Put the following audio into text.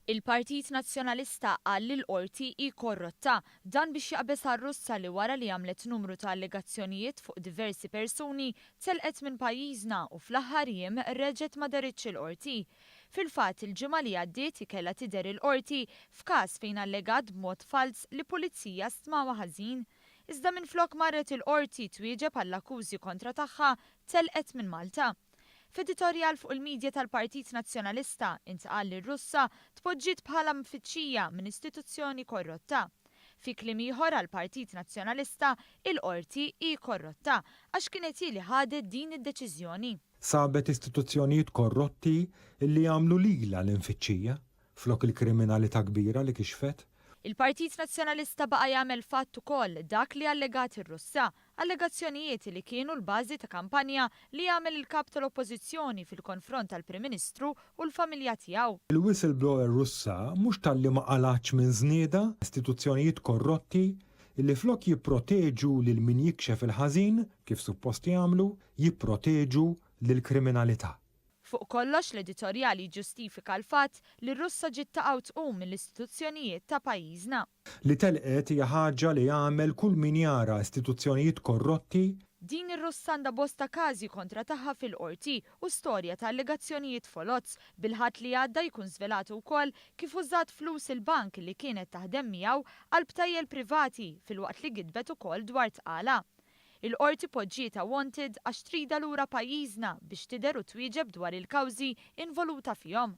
Il-Partit Nazzjonalista qal li l-Qorti hi korrotta, dan biex jaqbeż għar-Russa li wara li għamlet numru ta' allegazzjonijiet fuq diversi persuni, telqet minn pajjiżna u fl-aħħar jiem reġgħet ma dehritx il-Qorti. Fil-fatt, il-ġimgħa li għaddiet hi kellha tidher il-Qorti f'każ fejn allegat b'mod falz li pulizija stmawha ħażin. Iżda minflok marret il-Qorti twieġeb għall-akkużi kontra tagħha Telqet minn Malta. F'editorjal fuq il-midja tal-Partit Nazzjonalista, intqal li r-Russa tpoġġiet bħala mfittxija minn istituzzjoni korrotta. Fi kliem ieħor għall-Partit Nazzjonalista, il-Qorti hi korrotta għax kienet hi li ħadet din id-deċiżjoni. Sabet istituzzjonijiet korrotti li għamlu lilha l-imfittxija, flok il-kriminalità kbira li kixfet. Il-Partit Nazzjonalista baqa' jagħmel fatt ukoll dak li allegat ir-Russa, Allegazzjonijiet li kienu l-bażi ta' kampanja li għamel il-Kap tal-Oppożizzjoni fil-konfront tal-Prim Ministru u l-familja tiegħu. Il-whistleblower Russa mhux talli ma qalgħatx minn żniedha, istituzzjonijiet korrotti li flok jipproteġu lil min jikxef il-ħażin, kif suppost jagħmlu, jipproteġu lill-kriminalità. Fuq kollox l-editorjal jiġġustifika l-fatt li r-Russa ġiet taqgħu tqum mill-istituzzjonijiet ta' pajjiżna. Li telqet hija ħaġa li jagħmel kull min jara istituzzjonijiet korrotti. Din ir-Russa għandha bosta każi kontra tagħha fil-Qorti u storja ta' allegazzjonijiet foloz. Bil-Ħadd li għadda jkun żvelat ukoll kif użat flus il-bank li kienet taħdem miegħu għal btajjel privati filwaqt li gidbet ukoll dwar tqala. Il-Qorti poġġietha wanted għax tridha lura pajjiżna biex tidher u twieġeb dwar il-kawżi involuta fihom.